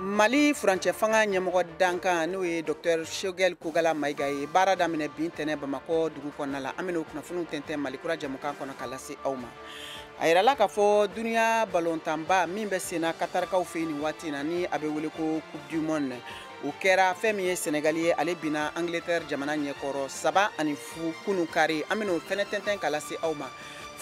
mali furancɛ fanga ɲɛmɔgɔ dankan n'o ye docteur choguel kogala mayiga ye baara daminɛ bi ntɛnɛn bamakɔ dugu kɔnɔna la an bɛn'o kunnafoniw tɛntɛn malikura jɛmukan kɔnɔ ka lase aw ma a yirala k'a fɔ duniya balontanba min bɛ senna katarikaw fɛ yen nin waati in na ni a bɛ wele ko coupe du monde o kɛra fɛn min ye sɛnɛgali ye ale binna angleterre jamana ɲɛkɔrɔ saba ani fu kunun kari an bɛn'o fɛnɛ tɛntɛn ka lase aw ma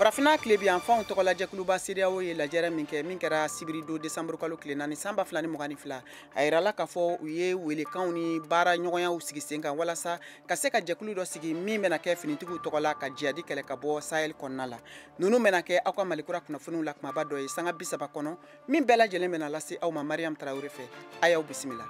farafina tilebin yanfanw tɔgɔ la jɛkuluba sedeyawo ye lajɛrɛ min kɛ min kɛra sibiridon desanburu kalo tile naani san ba fila ni mugan ni fila a yirala k'a fɔ u ye welekanw ni baara ɲɔgɔnyaw sigi sen kan walasa ka se ka jɛkulu dɔ sigi min bɛna kɛ finitigiw tɔgɔ la ka jihadi kɛlɛ ka bɔ sahel kɔnɔna la ninnu bɛna kɛ aw ka malikura kunnafoniw la kumaba dɔ ye sanga bi saba kɔnɔ min bɛɛ lajɛlen bɛna lase aw ma mariyamu tarawele fɛ a y'aw bisimila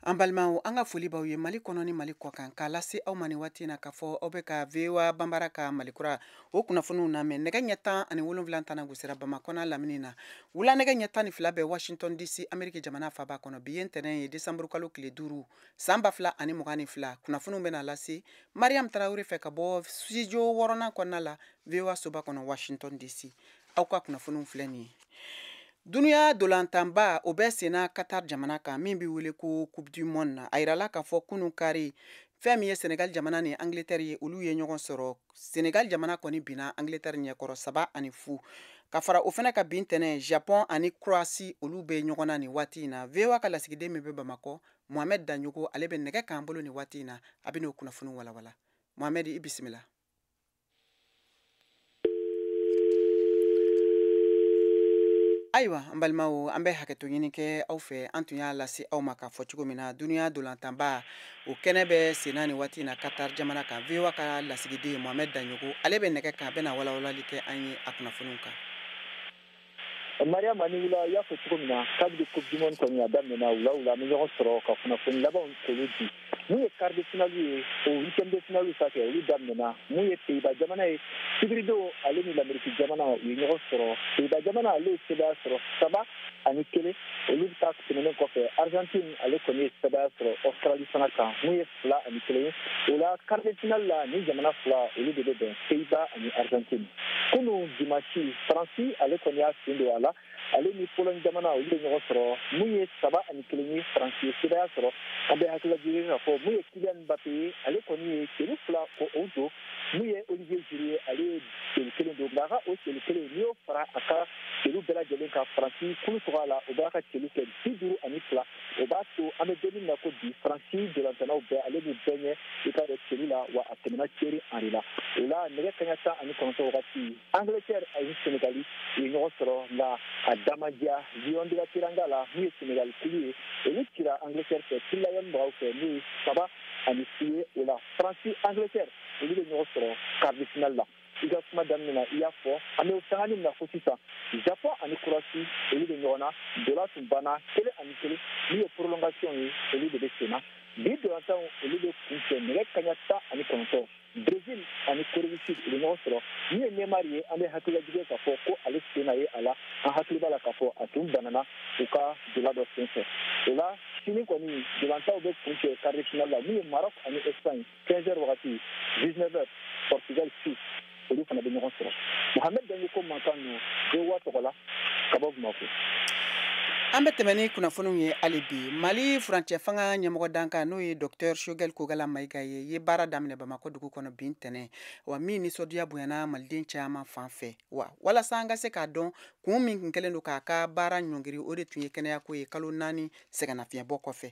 an balimaw an ka foli b'aw ye mali kɔnɔ ni mali kɔ kan k'a lase aw ma ni waati na k'a fɔ aw bɛ ka voa banbara ka malikura o kunnafoniw namɛn nɛgɛ ɲɛ tan ani wolonwula tana gosira bamakɔ n'a lamini na wula nɛgɛ ɲɛ tan ni fila bɛ washington dc ameriki jamana faaba kɔnɔ bi ye ntɛnɛn ye desanburu kalo tile duuru san ba fila ani mugan ni fila kunnafoniw bɛna lase mariyamu tarawure fɛ ka bɔ studio wɔɔrɔnan kɔnɔna la voa soba kɔnɔ washington dc aw ka kunnafoniw filɛ nin ye dunuya dolantanba o bɛ senna katar jamana kan min bɛ wele ko coupe du monde na a yirala k'a fɔ kunun kari fɛn min ye senegal jamana ni angleterre ye olu ye ɲɔgɔn sɔrɔ senegal jamana kɔni binna angleterre ɲɛkɔrɔ saba ani fu ka fara o fana kan bi ntɛnɛn japon ani croatie olu bɛ ɲɔgɔn na nin waati in na voa ka lasigiden min bɛ bamakɔ mohamɛd danɲogo ale bɛ nɛgɛ kan an bolo nin waati in na a bɛn'o kunnafoni walawala mohamɛd i bisimila ayiwa an balimaw an bɛ hakɛto ɲini kɛ aw fɛ an tun y'a lase aw ma k'a fɔ cogo min na duniya dolantanba o kɛnɛ bɛ senna ni waati na katar jamana kan voa ka lasigiden mohamɛd danɲogo ale bɛ nɛgɛ kan a bɛna walawalali kɛ an ye a kunnafoniw kan Mariam a ni wula y'a fɔ cogo min na kabini coupe du monde kɔni a daminɛna wula wula an bɛ ɲɔgɔn sɔrɔ ka kunnafoni labanw k'olu di min ye quart de finale ye o huitième de finale ta kɛ olu daminɛna mun ye pays-bas jamana ye sibiridon ale ni lameriki jamana u ye ɲɔgɔn sɔrɔ pays-bas jamana ale ye sebaaya sɔrɔ saba ani kelen olu ta tɛmɛnen kɔfɛ argentine ale kɔni ye sebaaya sɔrɔ australie fana kan mun ye fila ani kelen o la quart de finale la nin jamana fila olu de bɛ bɛn pays-bas ani argentine kunu dimansi faransi ale kɔni y'a sen don a la ale ni pologne jamana olu bɛ ɲɔgɔn sɔrɔ mun ye saba ani kelen ye faransi ye sebaya sɔrɔ an bɛ hakililajigin k'a fɔ mun ye kylian mbappé ye ale kɔni ye celu fila ko o don mun ye olivier giroud ye ale ye celu kelen don nka a ka o celu kelen n'i y'o fara a ka celu bɛɛ lajɛlen kan faransi kulu tɔgɔ la o b'a ka celu kɛ bi duuru ani fila o b'a to an bɛ don min na ko bi faransi dolantannaw bɛɛ ale b'u bɛɛ ɲɛ i k'a dɔn celu la wa a tɛmɛna thierry henry la o la nɛgɛ kanɲɛ tan ani kɔnɔntɔ wagati angleterre ani senegali u ye ɲɔgɔn sɔrɔ nka a damadiya lion de la teranga la min ye senegali kulu ye olu cira angleterre fɛ three lions mɔgɔw fɛ n'o ye saba ani si ye o la faransi angleterre olu bɛ ɲɔgɔn sɔrɔ quart de finale la i ka kuma daminɛ na i y'a fɔ an bɛ sangani min na ko sisan japon ani croatie olu bɛ ɲɔgɔn na dola tun banna kelen ani kelen min ye prolongation ye olu de bɛ sen na bi dolantanw olu bɛ kuncɛ nɛgɛ kanɲɛ tan ani kɔnɔntɔn brésil ani corée du sud u bɛ ɲɔgɔn sɔrɔ min ye neymar ye an bɛ hakililajigin k'a fɔ ko ale sen na ye a la an hakili b'a la k'a fɔ a tun banana u ka dola dɔ sen fɛ o la sini kɔni dolantanw bɛ kuncɛ quart de finale la min ye maroc ani espagne 15 heures wagati 19 heures portugal suisse olu fana bɛ ɲɔgɔn sɔrɔ mohamed dagnoko mankan ninnu voa tɔgɔ la ka bɔ bamakɔ an bɛ tɛmɛ ni kunnafoniw ye hali bi mali furancɛ fanga ɲɛmɔgɔ dankan n'o ye dɔktɛr choguel kokalla mayiga ye ye baara daminɛ bamakɔ dugu kɔnɔ bi ntɛnɛn wa min nisɔndiya bonyana maliden caman fan fɛ wa walasa an ka se k'a dɔn kun min tun kɛlen don k'a ka baara ɲɔngiri o de tun ye kɛnɛyako ye kalo naani sɛgɛnnafiɲɛbɔ kɔfɛ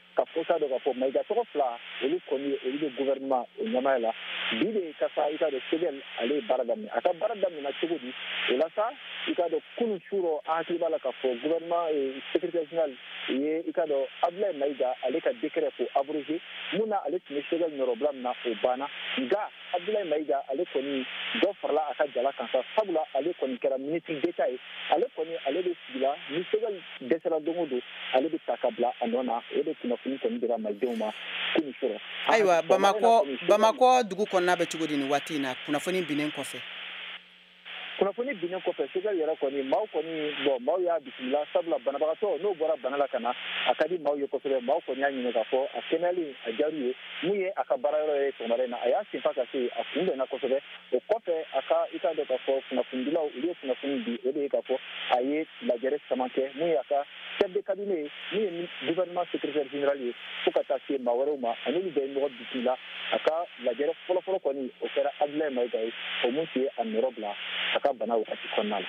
k'a fɔ k'a dɔn k'a fɔ mayiga tɔgɔ fila olu kɔni ye olu bɛ gouvernement o ɲɛmaaya la bi de ka sa i k'a dɔn choguel ale ye baara daminɛ a ka baara daminɛna cogo di o la sa i k'a dɔn kunu su rɔ an hakili b'a la k'a fɔ gouvernement secrétaire général ye i k'a dɔn abdulayi mayiga ale ka décret ko abroger mun na ale tun bɛ choguel nɔrɔbila min na o banna nka abdulayi mayiga ale kɔni dɔ farala a ka jala kan sa sabula ale kɔni kɛra ministre d'état ye ale kɔni ale bɛ sigila ni choguel dɛsɛra don o don ale bɛ ta ka bila a nɔ na o de kunnafoni kɔni dira malidenw ma kunu su rɔ ayiwa bamakɔ dugu kɔnɔna bɛ cogo di nin waati in na kunnafoni binnen kɔfɛ kunnafoni binnen kɔfɛ choguel yɛrɛ kɔni maaw kɔni bon maaw y'a bisimila sabula banabagatɔ n'o bɔra bana la ka na a ka di maaw ye kosɛbɛ maaw kɔni y'a ɲini k'a fɔ a kɛnɛyalen a jaaru ye mun ye a ka baarayɔrɔ ye sɔgɔmada in na a y'a senfa ka se a kunbɛnna kosɛbɛ o kɔfɛ a ka i k'a dɔn k'a fɔ kunnafonidilaw olu ye kunnafoni di o de ye k'a fɔ a ye lajɛrɛ caman kɛ mun ye a ka chef de cabinet min ye gouvernement secrétaire général ye fo ka taa se maa wɛrɛw ma an'olu bɛɛ ye ɲɔgɔn bisimila la a ka lajɛrɛ fɔlɔfɔlɔ kɔni o kɛra abdulayi mayiga ye o mun tun ye a nɔrɔ bila a ka bana wagati kɔnɔna la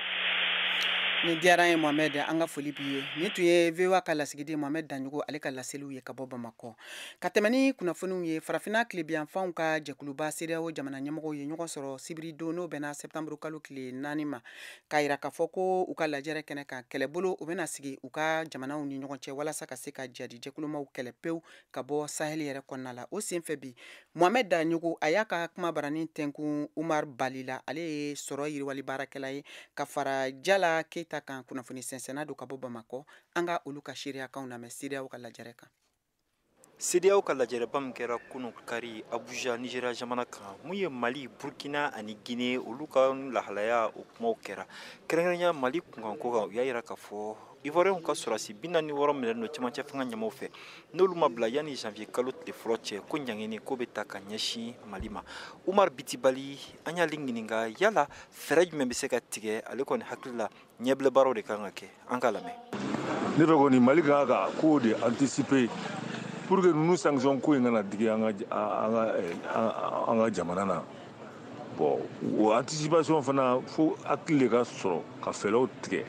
ni diyara ye mohamɛd an ka foli b'i ye nin tun ye voa ka lasigiden mohamɛd daɲogo ale ka laseliw ye ka bɔ bamakɔ ka tɛmɛ ni kunnafoniw ye farafinna tilebiyanfanw ka jɛkuluba sedeyawo jamana ɲɛmɔgɔw ye ɲɔgɔn sɔrɔ sibiridon n'o bɛnna sɛptanburu kalo tile naani ma k'a jira k'a fɔ ko u ka lajɛrɛ kɛnɛ kan kɛlɛbolo u bɛna sigi u ka jamanaw ni ɲɔgɔn cɛ walasa ka se ka jadi jɛkulumaw kɛlɛ pewu ka bɔ sahɛli yɛrɛ kɔnɔna la o senfɛ bi mohamɛd daɲogo a y'a ka kuma baranin tɛnkun umar bali la ale ye sɔrɔ yiriwali baarakɛla ye ka fara jala keyita kan kunnafoni sɛnsɛnna don ka bɔ bamakɔ an ka olu ka seereyakanw lamɛn sedeyawo ka lajɛrɛ kan CEDEAO ka lajɛrɛba min kɛra kunun kari Abuja Nizeriya jamana kan mun ye Mali, Burkina ani Guinee olu ka lahalaya o kumaw kɛra kɛrɛnkɛrɛnya Mali kunkanko kan u y'a jira k'a fɔ Ivoiriyɛnw ka sɔrɔdasi bi naani ni wɔɔrɔ minɛlen don cɛmancɛ fanga ɲɛmaaw fɛ n'olu ma bila yanni janvier kalo tile fɔlɔ cɛ ko ɲangini ko bɛ ta ka ɲɛsin Mali ma Umar Bitibali an y'ale ɲininka yala fɛɛrɛ jumɛn bɛ se ka tigɛ ale kɔni hakili la ɲɛbila baaraw de kan ka kɛ an ka lamɛn ne fɛ kɔni mali kan ka kow de anticiper pour que ninnu sanction ko in kana digi an ka an ka jamana na bon o anticipation fana fo hakili de ka sɔrɔ ka fɛɛrɛw tigɛ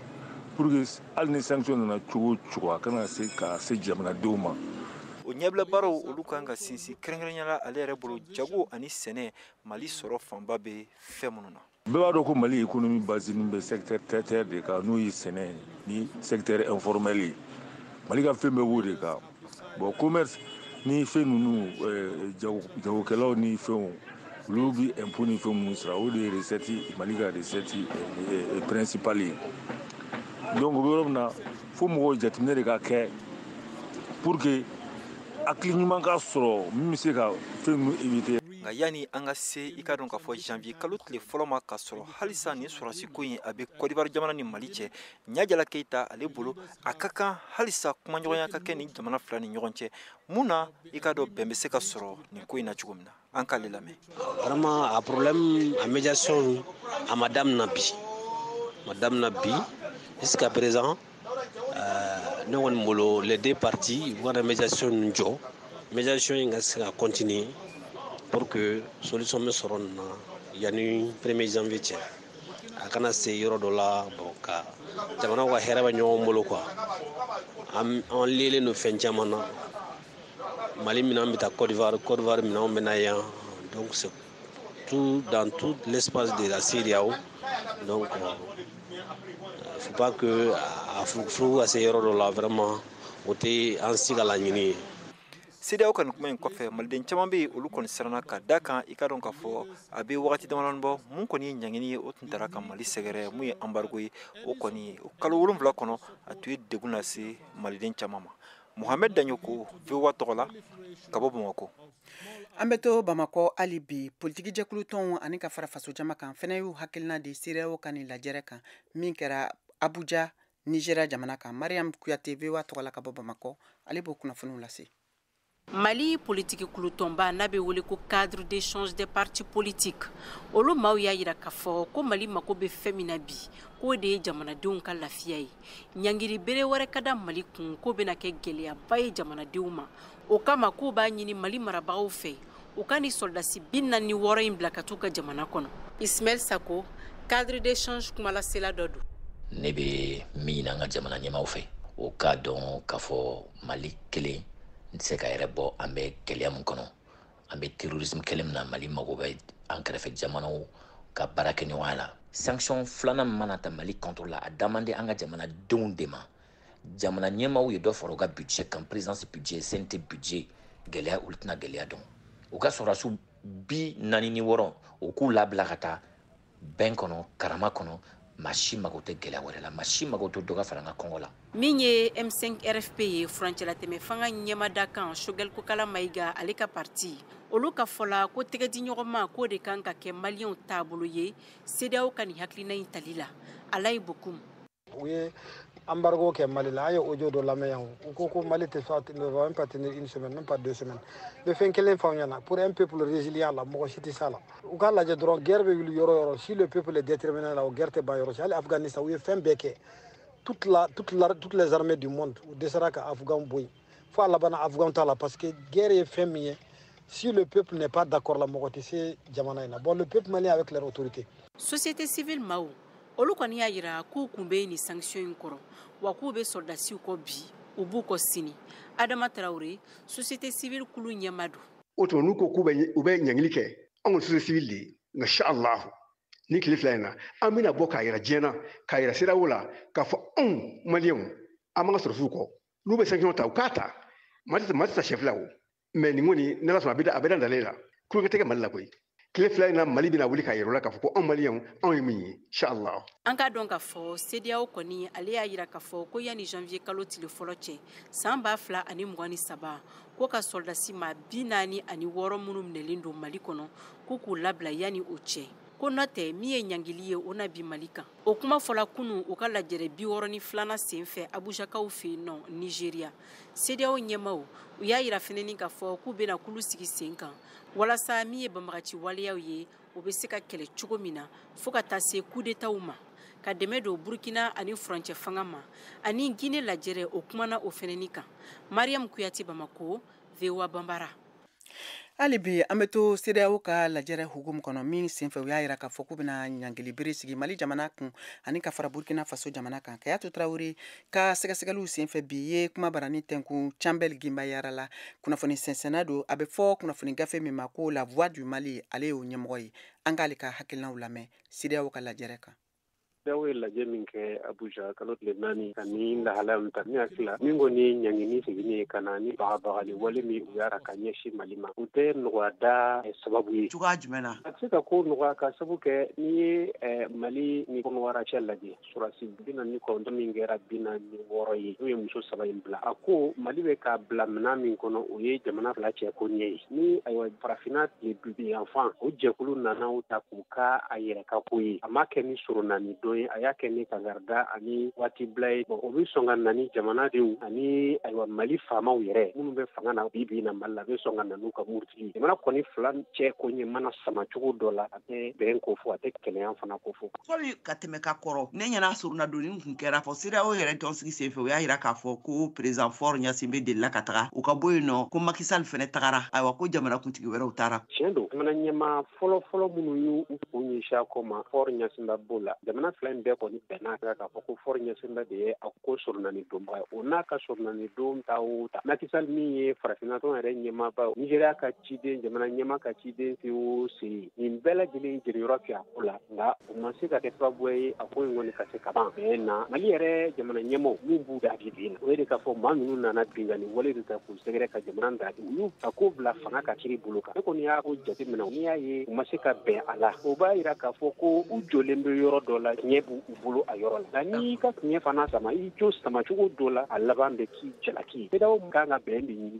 pour que hali ni sanction nana cogo o cogo a kana se ka se jamanadenw ma o ɲɛbila baaraw olu kan ka sinsin kɛrɛnkɛrɛnyala ale yɛrɛ bolo jago ani sɛnɛ mali sɔrɔ fanba bɛ fɛn minnu na bɛɛ b'a dɔn ko mali économie basini bɛ secteur tertiaire de kan n'o ye sɛnɛ ni secteur informel ye mali ka fɛn bɛɛ b'o de kan bon commerce ni fɛn ninnu eh, jago jagokɛlaw ni fɛnw olu bi impôt ni fɛn minnu sara o de ye recette mali ka recette eh, eh, principale ye donc o bɛ yɔrɔ min na fo mɔgɔw jateminɛ de ka kɛ pour que hakili ɲuman ka sɔrɔ min bɛ se ka fɛn ninnu éviter nka yanni an ka se i ka dɔn k'a fɔ janvier kalo tile fɔlɔ ma k'a sɔrɔ halisa nin sɔrɔdasi ko in a bɛ kɔdiwari jamana ni mali cɛ ɲajala keyita ale bolo a ka kan halisa kumaɲɔgɔnya ka kɛ nin jamana fila ni ɲɔgɔn cɛ mun na i ka dɔn bɛn bɛ se ka sɔrɔ nin ko in na cogo min na an k'ale lamɛn vraiment a problème a médiation a ma damina bi ma damina bi jusqu'à présent Euh, ne kɔni bolo les deux parties u kana médiation nin jɔ médiation in ka se ka continuer pour que solution bɛ sɔrɔ nin na yanni premier janvier cɛ a kana se yɔrɔ dɔ la bon ka jamanaw ka hɛrɛ bɛ ɲɔgɔn bolo quoi an an liélen don fɛn caman na mali minɛn bɛ taa côte d'ivoire côte d'ivoire minɛnw bɛ na yan donc c'est Tout, dans tout l'espace de la CEDEAO. Donc, faut pas que a furuku ka se yɔrɔ dɔ la vraiment, o tɛ an si ka laɲini ye. CEDEAO ka nin kuma in kɔfɛ maliden caman bɛ yen olu kɔni siranna ka da kan i ka dɔn k'a fɔ a bɛ wagati damadɔni bɔ mun kɔni ye ɲangini ye o tun taara ka mali sɛgɛrɛ mun ye embargo ye o kɔni o kalo wolonwula kɔnɔ a tun ye degun lase maliden caman ma Mohamed Danyoko, VOA tɔgɔ la, ka bɔ Bamakɔ. An bɛ to Bamakɔ hali bi politiki jɛkulu tɔnw ani ka fara faso jama kan fɛnɛ y'u hakilina di CEDEAO ka nin lajɛrɛ kan min kɛra Abuja Nigeria jamana kan Mariam Kuyate VOA tɔgɔ la ka bɔ Bamakɔ ale b'o kunnafoniw lase mali politiki kulutɔnba n'a bɛ wele ko cadre d'échange des partis politiques olu maaw y'a yira k'a fɔ ko mali mako bɛ fɛn min na bi k'o de ye jamanadenw ka lafiya ye ɲangiri bere wɛrɛ ka da mali kun k'o bɛna kɛ gɛlɛyaba ye jamanadenw ma o kama k'u b'a ɲini mali marabagaw fɛ u ka nin sɔrɔdasi bi naani ni wɔɔrɔ in bila ka t'u ka jamana kɔnɔ ismail sako cadre d'échange kumalasela dɔ don ne bɛ min ɲini an ka jamana ɲɛmaaw fɛ u k'a dɔn k'a fɔ mali kelen n tɛ se k'a yɛrɛ bɔ an bɛ gɛlɛya min kɔnɔ an bɛ terrorisme kɛlɛ min na mali mago bɛ an kɛrɛfɛ jamanaw ka baarakɛɲɔgɔnya la sanction filanan min mana ta mali contre la a damande an ka jamanadenw de ma jamana ɲɛmaaw ye dɔ fara u ka budget kan présidence budget cnt budget gɛlɛya olu tɛna gɛlɛya dɔn u ka sɔrɔdasiw bi naani ni wɔɔrɔ u k'u labila ka taa bɛn kɔnɔ karama kɔnɔ maa si mago tɛ gɛlɛya wɛrɛ la maa si mago tɛ dɔ ka fara an ka kɔngɔ la min ye m5 rfp ye furancɛlatɛmɛ fanga ɲɛmaa dankan choguel kokalla maiga ale ka parti olu ka fɔla ko tɛgɛdiɲɔgɔnma k'o de ka kan ka kɛ maliyɛnw taabolo ye cedeao ka nin hakilina in tali la alayi bokum u ye embargo kɛ mali la an ye audio dɔ lamɛn yan u ko ko mali tɛ se ne pas tenir une semaine même pas deux semaines n bɛ fɛn kelen f'aw ɲɛna pour un peuple résilient la mɔgɔ si tɛ s'a la u k'a lajɛ dɔrɔn guerre bɛ wuli yɔrɔ o yɔrɔ si le peuple est déterminé la o guerre tɛ ban yɔrɔ si hali afghanistan u ye fɛn bɛɛ kɛ toute la toute la toutes les armées du monde u dɛsɛra ka afghan bɔ yen fo a labanna afghan ta la parce que guerre ye fɛn min ye si le peuple n'est pas d'accord la mɔgɔ tɛ se jamana in na bon le peuple malien avec leur autorité société civile maaw olu kɔni y'a yira k'u kun bɛ nin sanction in kɔrɔ wa k'u bɛ sɔrɔdasiw kɔ bi u b'u kɔ sini adama traoré société civile kulu ɲɛmaa don o tuma n'u ko k'u bɛ u bɛ ɲangili kɛ anw ka société civile de ye nka in sha allahu ni tile fila in na an bɛna bɔ k'a yira diɲɛ na k'a yira cedeao la k'a fɔ anw maliyɛnw an b'an ka sɔrɔdasiw kɔ n'u bɛ sanction ta u k'a ta mali tɛ mali tɛ sɛfila o mais nin kɔni n'ala sɔnna a bɛ a bɛ dan ale la tulonkɛ tɛ kɛ mali la koyi tile fila in na mali bɛna wuli k'a yira u la k'a fɔ ko anw maliyɛnw anw ye min ye inshallah an k'a dɔn k'a fɔ sedeyaw kɔni ale y'a yira k'a fɔ ko yanni janvier kalo tile fɔlɔ cɛ san ba fila ani mugan ni saba ko ka sɔrɔdasi maa bi naani ani wɔɔrɔ minnu minɛlen don mali kɔnɔ ko k'u labila yanni o cɛ ko n'o tɛ min ye ɲangili ye o na bi mali kan o kuma fɔla kunu u ka lajɛrɛ biwɔrɔ ni filanan sen fɛ abujakaw fɛ yen nɔ nizeriya sedeyaw ɲɛmaaw u y'a yira fɛnɛni k'a fɔ k'u bɛna kulu sigi sen kan walasa min ye banbagaci waleyaw ye u bɛ se ka kɛlɛ cogo min na fo ka taa se kudetaw ma ka dɛmɛ don burkina ani furancɛ fanga ma ani gine lajɛrɛ o kumana o fɛnɛni kan mariyamu kuyate bamako voa banbara hali bi an bɛ to sedeyaw ka lajɛrɛ hukumu kɔnɔ min senfɛ u y'a yira k'a fɔ k'u bɛna ɲangili bere sigi mali jamana kun ani ka fara burkina faso jamana kan kajatu tarawele ka sɛgɛsɛgɛliw senfɛ bi ye kuma barani tɛnkun cambɛl gimbayara la kunnafoni sɛnsɛnna don a bɛ fɔ kunnafoni gafe min ma ko la voix du mali ale y'o ɲɛmɔgɔ ye an k'ale ka hakilinaw lamɛn sedeyaw ka lajɛrɛ kan Deyaw ye lajɛ min kɛ Abuja kalo tile naani ka nin lahalaya min ta ne hakili la min kɔni ye ɲangini seginni ye ka na ni bagabagali wale min u y'a ka ɲɛsin Mali ma o tɛ nɔgɔya da sababu ye cogoya jumɛn na a tɛ se ka ko nɔgɔya k'a sabu kɛ n'i ye Mali ni kɔnɔwara cɛ lajɛ sɔrɔdasi bi naani ni kɔnɔntɔn min kɛra bi naani ni wɔɔrɔ ye n'u ye muso saba in bila a ko Mali bɛ k'a bila minɛn min kɔnɔ o ye jamana fila cɛ koɲɛ ye ni ayiwa farafinna tilebin yanfan o jɛkulu nana o ta u ka a yɛrɛ ka ko ye a m'a kɛ ni soronani don ye a y'a kɛ ni kangarida ani waati bila ye bɔn o bɛ sɔn ka na ni jamanadenw ani ayiwa mali faamaw yɛrɛ minnu bɛ fanga na bi bi in na mali la bɛ sɔn ka na n'u ka murutigi jamana kɔni fila cɛ koɲɛ mana sama cogo dɔ la a tɛ bɛn ko fɔ a tɛ kɛnɛya fana ko fɔ fɔli ka tɛmɛ ka kɔrɔ ne ɲɛna soronadonni tun kɛra fo sedeyaw yɛrɛ tɔnsigi senfɛ u y'a yira k'a fɔ ko perezan fɔr ɲasinbɛ delila ka taga u ka bɔ yen nɔ ko maki sali fɛnɛ tagara ayiwa ko jamanakuntigi wɛrɛw taara tiɲɛ don jamana ɲɛmaa fɔlɔfɔlɔ minnu y'u kun ɲɛsin a ko ma fɔr ɲasinbɛ b'o la jamana fila in bɛɛ kɔni bɛnn'a kan k'a fɔ ko fɔr ɲasinbɛ de ye a ko soronani donbaga ye o n'a ka soronani don ta o ta maki sali min ye farafinna tɔn yɛrɛ ɲɛmaaba nizeriya ka ciden jamana ɲɛmaa ka ciden se o sen nin bɛɛ lajɛlen jeniyɔrɔ kɛ a ko la nka u ma se ka kɛ sababu ye a ko in kɔni ka se ka ban bɛn na mali yɛrɛ jamana ɲɛmaaw min b'u da bi bi in na o ye de k'a fɔ maa ninnu nana binkanni wale de ta k'u sɛgɛrɛ ka jamana da u y'u ka ko bila fanga ka kiri bolo kan ne kɔni y'a ko jate minɛ n'i y'a ye u ma se ka bɛn a la o b'a jira k'a fɔ ko u jɔlen bɛ yɔrɔ dɔ la tiɲɛ b'u bolo a yɔrɔ la nka n'i ka tiɲɛ fana sama i jo sama cogo dɔ la a laban bɛ k'i jalaki sedeyaw ka kan ka bɛn de ɲini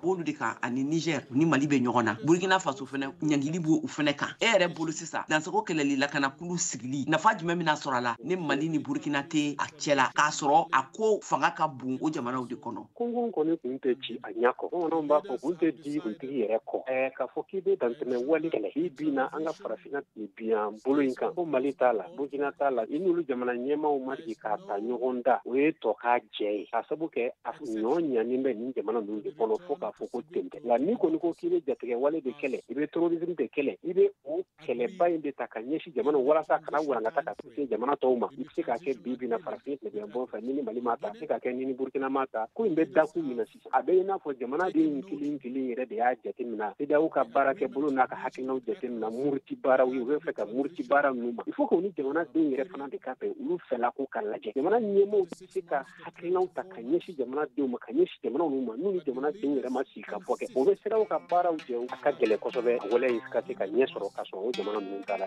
b'olu de kan ani niger ni mali bɛ ɲɔgɔn na burkina faso fana ɲangili b'olu fana kan e yɛrɛ bolo sisan dansago kɛlɛli lakanakulu sigili nafa jumɛn bɛna sɔrɔ a la ni mali ni burkina tɛ a cɛ la k'a sɔrɔ a ko fanga ka bon o jamanaw de kɔnɔ kungun kɔni kun tɛ ci a ɲɛ kɔ bamananw b'a fɔ kun tɛ di kuntigi yɛrɛ kɔ ɛɛ k'a fɔ k'i bɛ dantɛmɛ wali kɛlɛ bi in na an ka farafinna tilebinyan bolo in kan ko mali t'a la burkina t'a la i n'olu jamana ɲɛmaaw ma sigi k'a ta ɲɔgɔn da o ye tɔ k'a jɛ ye k'a sabu kɛ a ɲɔ ɲani bɛ nin jamana ninnu de kɔnɔ fo k'a fɔ ko ten tɛ nka n'i kɔni ko k'i bɛ jatigɛ wale de kɛlɛ i bɛ terrorisme de kɛlɛ i bɛ o kɛlɛba in de ta ka ɲɛsin jamana walasa kana walankata ka se jamana tɔw ma i bɛ se k'a kɛ bi bi in na farafin tilebinyanfan fɛ n'i ni mali m'a ta a bɛ se ka kɛ n'i ni burukina m'a ta ko in bɛ dakun min na a bɛ i n'a fɔ jamana denw kelen kelen yɛrɛ de y'a jateminɛ cedeao ka baara kɛ bolo n'a ka hakilinaw jateminɛ muruti baaraw ye u bɛ fɛ ka muruti baara ninnu ma il faut que nin jamana denw yɛrɛ fana de ka bɛn olu fɛla ko ka lajɛ jamana ɲɛmaaw tɛ se ka hakilinaw ta ka ɲɛsin jamana denw ma ka ɲɛsin jamana ninnu ma n'u ni jamana denw yɛrɛ ma sigi ka fɔ kɛ o bɛ cedeao ka baaraw jɛ a ka gɛlɛn kosɛbɛ a wale in ka se ka ɲɛ sɔrɔ k'a sɔrɔ o jamana ninnu t'a la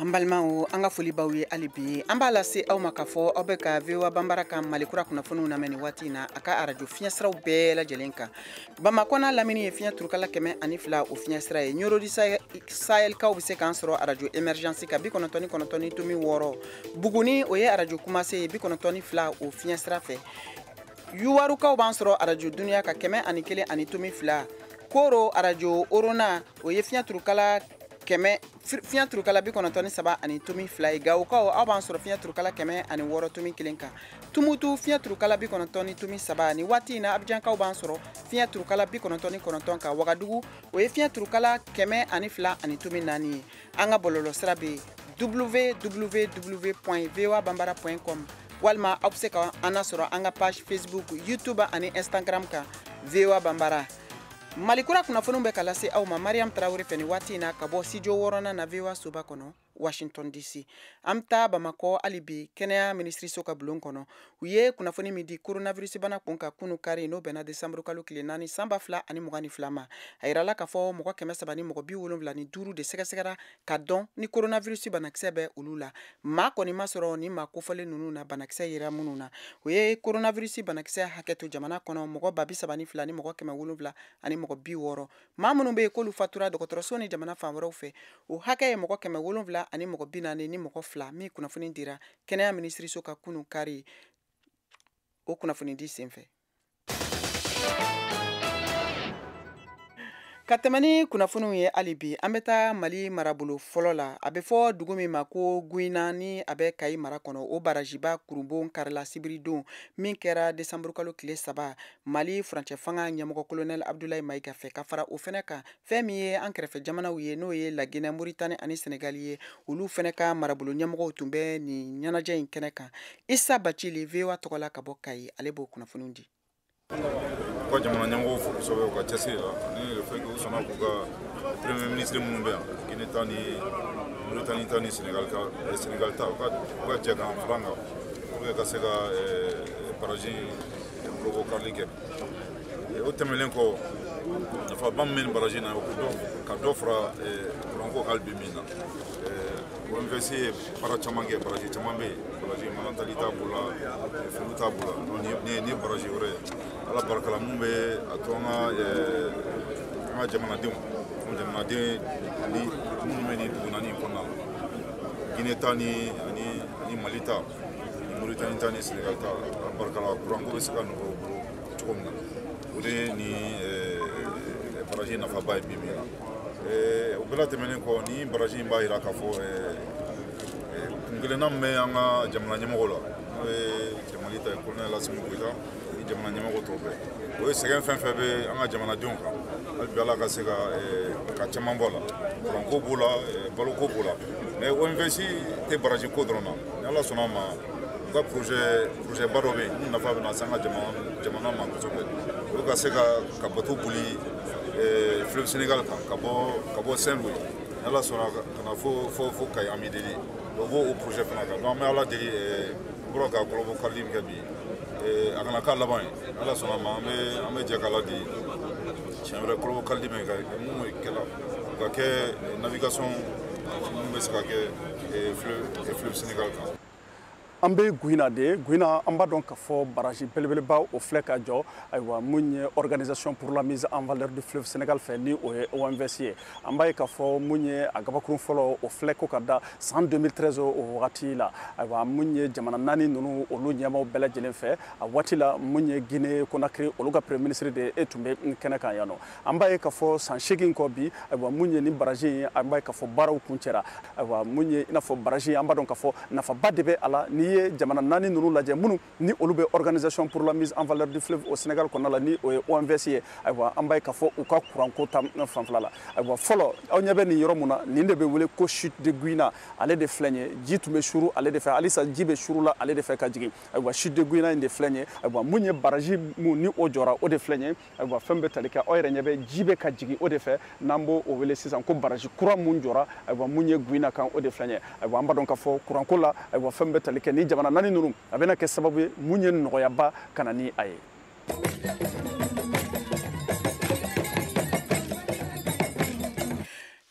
an balimaw an ka foli b'aw ye hali bi an b'a lase aw ma k'a fɔ aw bɛ ka voa banbara ka mali kura kunnafoniw lamɛn nin waati na a ka arajo fiɲɛsiraw bɛɛ lajɛlen kan bamakɔ n'a lamini ye fiɲɛ turukala kɛmɛ ani fila o fiɲɛsira ye nioro du sahelkaw bɛ se k'an sɔrɔ arajo emergence ka bi kɔnɔntɔn ni kɔnɔntɔn ni tomi wɔɔrɔ buguni o ye arajo kumase ye bi kɔnɔntɔn ni fila o fiɲɛsira fɛ yuwarukaw b'an sɔrɔ arajo duniya ka kɛmɛ ani kelen ani tomi fila koro arajo orona o ye fiɲɛ turukala kɛmɛ fiɲɛ turukala bi kɔnɔntɔn ni saba ani tomi fila ye gawokaw aw b'an sɔrɔ fiɲɛ turukala kɛmɛ ani wɔɔrɔ tomi kelen kan tumutu fiɲɛ turukala bi kɔnɔntɔn ni tomi saba nin waati in na abijankaw b'an sɔrɔ fiɲɛ turukala bi kɔnɔntɔn ni kɔnɔntɔn kan wagadugu o ye fiɲɛ turukala kɛmɛ ani fila ani tomi naani ye an ka bɔlɔlɔ sira bɛ www point voa banbara point com walima aw bɛ se ka an na sɔrɔ an ka page facebook youtube ani instagram kan voa banbara mali kura kunnafoniw bɛ ka lase aw ma mariam tarawele fɛ nin waati in na ka bɔ studio wɔɔrɔnan na voa soba kɔnɔ washington dc an bɛ taa bamakɔ hali bi kɛnɛya minisiriso ka bulon kɔnɔ u ye kunnafoni min di koronavirusibana kun kan kunun kari n'o bɛnna desanburu kalo tile naani san ba fila ani mugan ni fila ma a yirala k'a fɔ mɔgɔ kɛmɛ saba ni mɔgɔ bi wolonwula ni duuru de sɛgɛsɛgɛra ka dɔn ni coronavirus banakisɛ bɛ olu la maa kɔni ma sɔrɔ nin maa kofɔlen ninnu na banakisɛ yera minnu na o ye coronavirus banakisɛ hakɛ to jamana kɔnɔ mɔgɔ ba bi saba ni fila ni mɔgɔ kɛmɛ wolonwula ani mɔgɔ bi wɔɔrɔ maa minnu bɛ yen k'olu fatura dɔgɔtɔrɔso ni jamana fan wɛrɛw fɛ o hakɛ ye mɔgɔ kɛmɛ wolonwula ani mɔgɔ bi naani ni mɔgɔ fila min kunnafoni dira kɛnɛya minisiriso ka kunun kari o kunnafoni di senfɛ ka tɛmɛ ni kunnafoniw ye hali bi an bɛ taa mali marabolo fɔlɔ la a bɛ fɔ dugu min ma ko guina ni a bɛ kayi mara kɔnɔ o barajiba kurunbonkarila sibiridon min kɛra desanburukalo tile saba mali furancɛ fanga ɲɛmɔgɔ kolonɛli abudulayi mayiga fɛ ka fara o fɛnɛ kan fɛn min ye an kɛrɛfɛ jamanaw ye n'o ye laginɛ moritani ani senegali ye olu fɛnɛ ka marabolo ɲɛmɔgɔw tun bɛ nin ɲɛnajɛ in kɛnɛ kan isa bacili voa tɔgɔ la ka bɔ kayi ale b'o kunnafoniw di ka jamana ɲɛmɔgɔw fo kosɛbɛ u ka cɛsiri la ani le fait que u sɔnna k'u ka premier ministre minnu bɛ yan guinée ta ni mauritanie ta ni sénégal ta eh, sénégal ta u ka u ka jɛ k'an fara kan pour que ka se ka eh, baraji kɔlɔbɔ karili kɛ o tɛmɛnen kɔ nafaba min bɛ baraji na ka dɔ fara kuranko hali bi min na OMVS ye baara caman kɛ baraji caman bɛ yen baraji manantali ta b'o la felu ta b'o la nin ye baraji wɛrɛ ye ala barika la mun bɛ a to an ka an ka jamanadenw an jamanaden ni minnu bɛ nin dugu naani in kɔnɔna la Guinée ta ni ani ani Mali ta ni Mauritanie ta ni Sénégal ta ala barika la kuranko bɛ se ka nɔgɔya u bolo cogo min na o de ye nin eh, baraji nafaba ye bi bi in na eh, o bɛɛ la tɛmɛnen kɔ nin baraji in b'a jira k'a fɔ eh, kuntilenna min bɛ an ka jamana ɲɛmɔgɔ la n'o ye mali ta ye kolonɛl asimi goyita ni jamana ɲɛmɔgɔ tɔw bɛɛ o ye sɛgɛn fɛn fɛn bɛ an ka jamanadenw kan hali bi ala ka se ka ka caman bɔ a la kuranko b'o la baloko b'o la mais OMVS tɛ baraji ko dɔrɔn na ni ala sɔnna a ma u ka projet projet ba dɔ bɛ yen mun nafa bɛna se an ka jamana ma kosɛbɛ o ka se ka ka bato boli eh, fleuve sénégal kan ka bɔ ka bɔ saint louis n'ala sɔnna ka na fo fo fo kayi an bɛ deli o b'o o projet fana kan donc an bɛ ala deli an bɔra ka kɔlɔbɔ karili min kɛ bi eh, a kana k'a laban ye n'ala sɔnna a ma an bɛ an bɛ jɛ k'ala deli siɲɛ wɛrɛ kɔlɔbɔ karili min ka mun kɛla o ka kɛ navigation mun bɛ se ka kɛ an bɛ guina de guina an b'a dɔn k'a fɔ baraji belebeleba o filɛ ka jɔ ayiwa min ye organisation pour la mise en valeur du fleuve Sénégal fɛ ni o ye OMVS ye an b'a ye k'a fɔ min ye a gabakurun fɔlɔ o filɛ ko ka da san 2013 o wagati la ayiwa min ye jamana naani ninnu olu ɲɛmaaw bɛɛ lajɛlen fɛ a waati la min ye Guinée Conakry olu ka premier ministre de e tun bɛ kɛnɛ kan yan nɔ an b'a ye k'a fɔ san seegin kɔ bi ayiwa mun ye nin baraji ye an b'a ye k'a fɔ baaraw kuncɛra ayiwa mun ye i n'a fɔ baraji an b'a dɔn k'a fɔ nafaba de bɛ a la n'i ye jamana naani ninnu lajɛ minnu ni olu bɛ organisation pour la mise en valeur du fleuve au Sénégal kɔnɔna la ni o ye OMVS ye ayiwa an b'a ye k'a fɔ u ka kuranko ta fanfɛla la ayiwa fɔlɔ aw ɲɛ bɛ nin yɔrɔ mun na nin de bɛ wele ko chute de Gouina ale de filɛ nin ye ji tun bɛ suru ale de fɛ halisa ji bɛ suru la ale de fɛ ka jigin ayiwa chute de Gouina in de filɛ nin ye ayiwa mun ye baraji mun ni o jɔra o de filɛ nin ye ayiwa fɛn bɛ tali kɛ aw yɛrɛ ɲɛ bɛ ji bɛ ka jigin o de fɛ n'an b'o o wele sisan ko baraji kura mun jɔra ayiwa mun ye gouina kan o de filɛ ye ayiwa an b'a dɔn k'a fɔ kuranko la ayiwa fɛn bɛ tali kɛ ni jamana naani ninnu a bɛna kɛ sababu ye mun ye nɔgɔyaba ka na ni a ye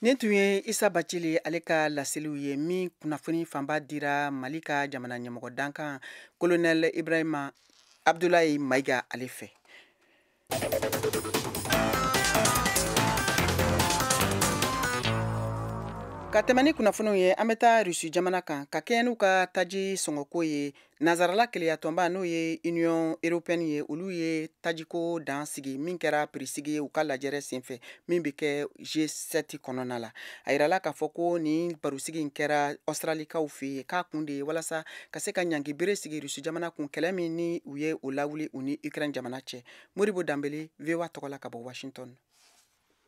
nin tun ye isa bacili ale ka laseliw ye min kunnafoni fanba dira mali ka jamana ɲɛmɔgɔ dankan kolonɛl ibrahima abdulayi mayiga ale fɛ ka tɛmɛ ni kunnafoniw ye an bɛ taa rusi jamana kan ka kɛɲɛ n'u ka taji sɔngɔko ye nazarala keleyatɔnba n'o ye union européenne ye olu ye tajiko dan sigi min kɛra pirisigi ye u ka lajɛrɛ senfɛ min bɛ kɛ G7 kɔnɔna la a yirala k'a fɔ ko nin barosigi in kɛra ɔsitaralikaw fɛ yen k'a kun de ye walasa ka se ka ɲangi bere sigi rusi jamana kun kɛlɛ min ni u ye o lawuli u ni ukraine jamana cɛ modibo danbele voa tɔgɔ la ka bɔ washington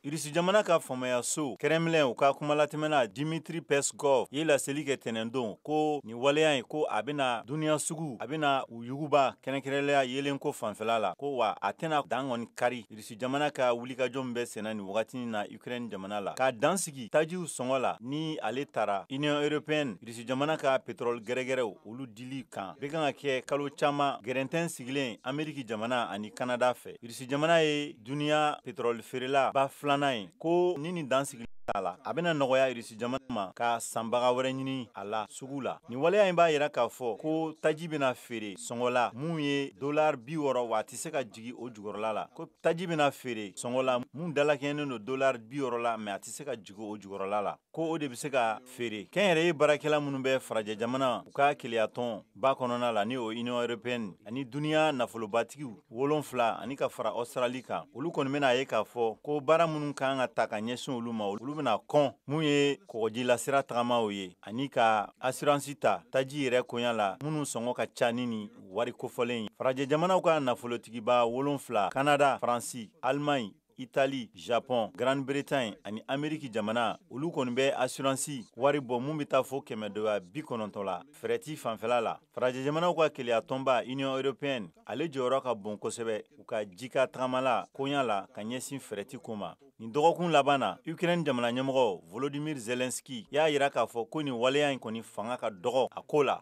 irisi jamana ka faamayaso kremlin u ka kumalatɛmɛna dimitri peskov ye laseli kɛ tɛnɛndon ko nin waleya ye ko a bena duniɲa sugu a bena u yuguba kɛrɛnkɛrɛnlenya yeelenko fanfɛla la ko wa a tɛna dan kɔni kari Russie jamana ka wulikajɔ min bɛ senna nin wagati in na Ukraine jamana la, ka dan sigi tajiw sɔngɔ la, ni ale tara Union européenne Russie jamana ka pétrole gɛrɛgɛrɛw olu dili kan, bɛ kan ka kɛ kalo caman gɛrɛntɛn sigilen Amérique jamana ani Canada fɛ. Russie jamana ye duniya pétrole feerela ba filanan ye, ko ni nin dansigili t'a la, a bɛna nɔgɔya Russie jamana ma ka sanbaga wɛrɛ ɲini a la sugu la. Nin waleya in b'a yira k'a fɔ ko taji bɛna feere sɔngɔ la mun ye dollars 60 wa a tɛ se ka jigi o jukɔrɔla la ko taji bɛna feere sɔngɔ la mun dalakɛɲɛnen don dolar bi wɔɔrɔ la mɛ a tɛ se ka jigi o jukɔrɔla la ko o de bɛ se ka feere kɛnyɛrɛye baarakɛla minnu bɛ farajɛ jamana u ka keleyatɔnba kɔnɔna la ni o union européenne ani duniɲa nafolobatigiw wolonwula ani ka fara australie kan olu kɔni bɛna a ye k'a fɔ ko baara minnu kan ka ta ka ɲɛsin olu ma olu bɛna kɔn mun ye kɔgɔjilasira tagamaw ye ani ka asiransi ta taji yɛrɛ koya la minnu sɔngɔ ka ca ni nin wari kofɔlen ye farajɛ jamanaw ka nafolotigiba wolonfila kanada faransi allemagne itali japɔn grande bretagne ani ameriki jamana olu kɔni bɛ asiransi wari bɔ mun bɛ taa fo kɛmɛ doya bi kɔnɔntɔn la fɛrɛti fanfɛla la farajɛ jamanaw ka kelenya tɔnba union européenne ale jɔyɔrɔ ka bon kosɛbɛ u ka jikan tagamala koɲa la ka ɲɛsin fɛrɛti ko ma nin dɔgɔkun laban na ukraine jamana ɲɛmɔgɔ volodimir zelenski y'a yira k'a fɔ ko nin waleya in kɔni fanga ka dɔgɔ a ko la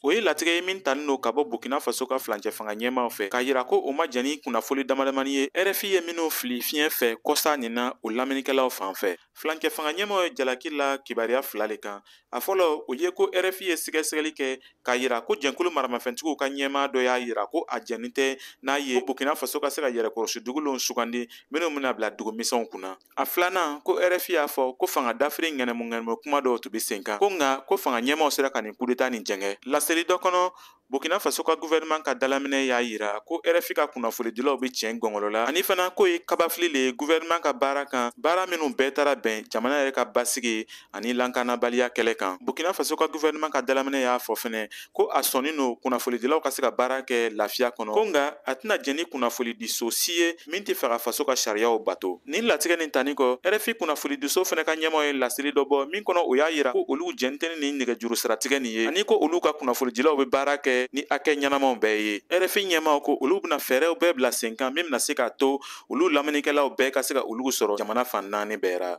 O ye latigɛ ye min tanin lo ka bɔ Burkina Faso ka flancɛ fanga ɲɛmaaw fɛ k'a yira ko o ma jɛn ni kunnafoli damadamani ye RFI ye minnu fili fiɲɛ fɛ kɔsa nin na o lamɛnnikɛlaw fan fɛ. Flancɛ fanga ɲɛmaaw ye jalaki la kibaruya fila le kan. A fɔlɔ, o ye ko RFI ye sɛgɛsɛgɛli kɛ k'a yira ko jɛnkulu maramafɛntigiw ka ɲɛmaa dɔ y'a yira ko a jɛnnen tɛ n'a ye Burkina Faso ka se ka yɛrɛkɔrɔsi dugulenw sugandi minnu bɛna bila dugu misɛnw kunna. a filanan ko rfi y'a fɔ ko fanga dafiri ŋɛnɛmu ŋɛnɛmu kuma dɔw tun be sen kan ko nka ko fanga ɲɛmaw sera ka nin kudeta nin jɛngɛ laseli dɔ kɔnɔ burkina faso ka guvɛrɛnman ka dalaminɛ y'a yira ko rfi ka kunnafolidilaw be tiɲɛ gɔngɔlɔ la ani fana k'o ye kabafili le ye guvɛrɛnman ka baara kan baara minw bɛɛ tara bɛn jamana yɛrɛ ka basigi ani lakanabaliya kɛlɛ kan burkina faso ka guvɛrɛnɛman ka dalaminɛ y'a fɔ fɛnɛ ko a sɔnnin lo kunnafolidilaw ka se ka baara kɛ lafiya kɔnɔ ko nka a tɛna jɛn ni kunnafolidiso si ye min tɛ fɛ ka faso ka sariyaw bato nin latigɛ nin tanin kɔ rfi kunnafolidiso fɛnɛ ka ɲɛmaw ye laseli dɔ bɔ min kɔnɔ o y'a yira ko olu jɛnnin tɛ ni nɛgɛjuru siratigɛ nin ye ani ko olu ka kunnafolidilaw bɛ baara kɛ ni hakɛ ɲɛnamaw bɛɛ ye rfi ɲɛmaw ko olu bɛna fɛɛrɛw bɛɛ bila sen kan min bɛna se k'a to olu lamɛnnikɛlaw bɛɛ ka se ka olu sɔrɔ jamana fan naani bɛɛ ra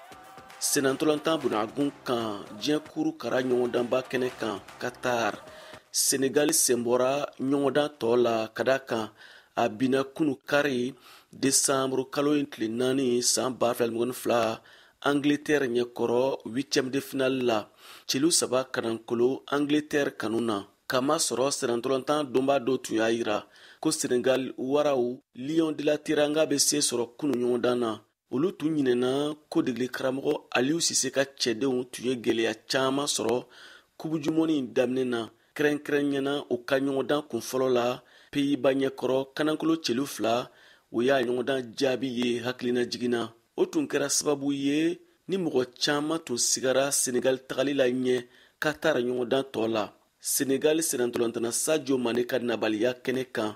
sennantolatan bunagun kan diɲɛ kuru kara ɲɔgɔndanba kɛnɛ kan katar senegali sen bɔra ɲɔgɔndan tɔ la ka da kan a binna kunu kari desanburu kalo in tile naani san ba fila ni mugan ni fila angleterre ɲɛkɔrɔ huitième de finale la celu saba kanankolo angleterre kanu na k'a masɔrɔ sennantolatan dɔnbaa dɔw tun y'a yira ko senegal waraw lion de la teranga bɛ se sɔrɔ kunu ɲɔgɔndan na olu tun ɲinɛna ko degeli karamɔgɔ aliou cissé ka cɛdenw tun ye gwɛlɛya caman sɔrɔ coupe du monde in daminɛ na kɛrɛnkɛrɛnɲɛna u ka ɲɔgɔndan kun fɔlɔ la pays bas ɲɛkɔrɔ kanankolo celu fila o y'a ɲɔgɔndan jaabi ye hakilina jiginna o tun kɛra sababu ye ni mɔgɔ caman tun sigara senegali tagali la ɲɛ katar ɲɔgɔndan tɔɔ la senegali sennantolatanna sadio mané ka nabaliya kɛnɛ kan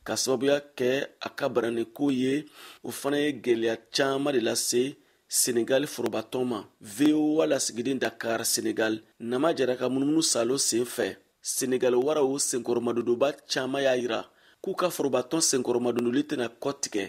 ka sababuya kɛ a ka bananiko ye o fana ye gwɛlɛya caaman de lase senegali forobatɔn ma voa lasigiden dakar senegal nama jara ka munumunu salo sen fɛ senegali waraw senkɔrɔmadondonbaa caaman y'a yira k'u ka forobatɔn senkɔrɔmadondoli tɛna kɔ tigɛ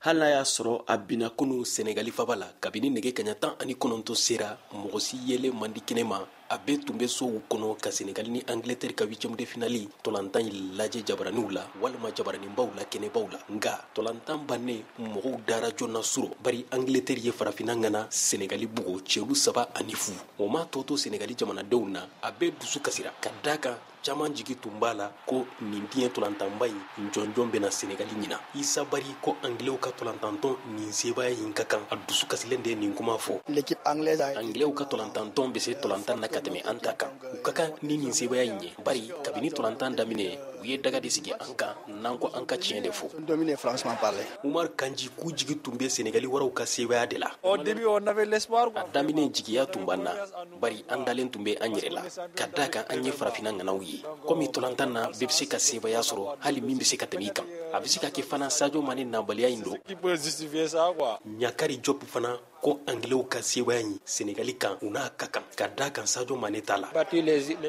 hali n'a y'a sɔrɔ a binna kunu senegali faba la kabini nɛgɛ kaɲa tan ani kɔnɔntɔn sera mɔgɔ si yeli man di kɛnɛ ma a bɛɛ tun bɛ sow kɔnɔ ka senegali ni angletɛri ka huitiɛme de finali tolantan in lajɛ jabaraninw la walima jabaraninbaw la kɛnɛbaw la nka tolantan bannen mɔgɔw dara joona su rɔ bari angletɛri ye farafina ŋana senegali bugo celu saba ani fu o m'a tɔ to senegali jamanadenw na a bɛɛ dusu kasira ka da kan caman jigi tun b'a la ko nin diɲɛ tolantanba in jɔnjɔn bɛ na senegali ɲinan isa bari ko anglɛw ka tolantantɔn ni sebaaya in ka kan a dusu kasilen de nin kuma fɔ anglɛw ka tolantantɔn bɛ se tolantan na ka tɛmɛ an ta kan u ka kan ni nin sebaaya in ye bari kabini tolantan daminɛ u ye daga de sigi an kan n'an ko an ka tiɲɛ de fɔ umar kanji k'u jigi tun bɛ senegali waraw ka sebaaya de la a daminɛ jigiya tun b'an na bari an dalen tun bɛ an yɛrɛ la ka da kan an ye farafina ŋanaw ye komi tolantan na bɛɛ bɛ se ka sebaaya sɔrɔ hali min bɛ se ka tɛmɛ i kan a bɛ se ka kɛ fana sajo mane nabaliya in don ɲakari jɔp fana ko angilɛw ka sebaaya in senegali kan u n'a ka kan ka da kan sajo mane t'a la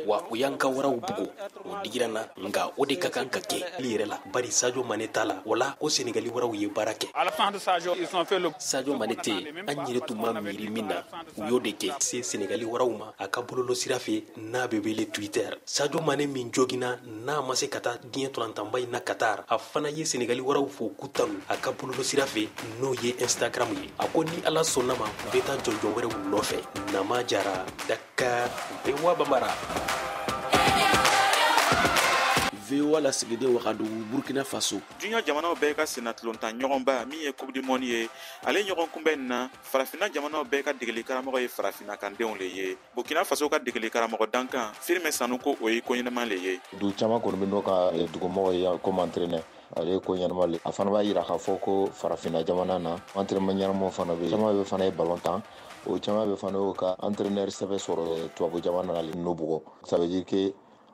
wa u y'an ka waraw bugo o digira n na nka o de ka kan ka kɛ li yɛrɛ la bari sajo mane t'a la wala ko senegali waraw ye baara kɛ sajo mane tɛ yen an yɛrɛ tun ma miiri min na u y'o de kɛ se senegali waraw ma a ka bɔlɔlɔ sira fɛ n'a bɛ wele twitter sajo mane min jogina n'a ma se ka taa diɲɛ tolantanba in na katar a fana ye senegali waraw fo k'u tanu a ka bɔlɔlɔ sira fɛ n'o ye instagram ye a ko ni ala sɔnn'a ma u bɛ taa jɔnjɔn wɛrɛw nɔfɛ nama jara dakar ka voa bambara voa lasigiden wagadugu burkina faso diɲɛ jamanaw bɛɛ ka sennatolontan ɲɔgɔnba min ye coupe du monde ye ale ɲɔgɔn kunbɛn nin na farafina jamanaw bɛɛ ka degeli karamɔgɔ ye farafina kandenw le ye burkina faso ka degeli karamɔgɔ dankan firmin sanu ko o ye ko ɲɛnama le ye dugu caman kɔni bɛ n'o ka eh, dugumɔgɔ ye komi entraîneur ale ko ɲɛnama le a fana b'a yira k'a fɔ ko farafinna jamana na entraîneur ɲɛnamaw fana bɛ caman bɛ fana ye balon tan o caman bɛ fana y'o ka entraîneur sɛbɛn sɔrɔ tubabu jamana na le n'o bugɔ ça veut dire que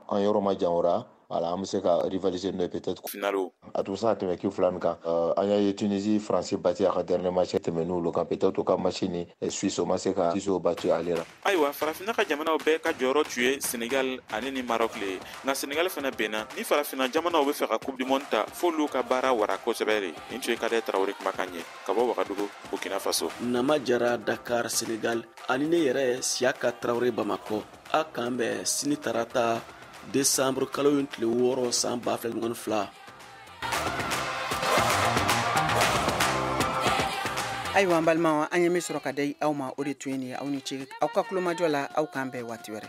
an yɔrɔ ma jan o ra voilà an bɛ se ka rivaliser n'o ye peut-être finalo a tun bɛ se ka tɛmɛ ki fila nin kan euh, an y'a ye Tunisie France bati a ka dernier match tɛmɛn'olu kan peut-être o ka match ni Suisse o ma se ka Suisse o bati ale la ayiwa farafinna ka jamanaw bɛɛ ka jɔyɔrɔ tun ye senegal ani ni marɔk le ye nka senegal fana binna ni farafinna jamanaw bɛ fɛ ka coupe du monde ta f'olu ka baara wara kosɛbɛ de nin tun ye kadɛr tarawore kumakan ye ka bɔ wagadugu burkina faso nama jara dakar senegal ani ne yɛrɛ siyaka tarawore bamakɔ a k'an bɛn sini tarata desanburu kalo in tile wɔɔrɔ san ba fila mugan ni fila ayiwa an balimaw an ye min sɔrɔ ka di aw ma o de tun ye nin ye aw ni ce aw ka tulomajɔ la aw k'an bɛn waati wɛrɛ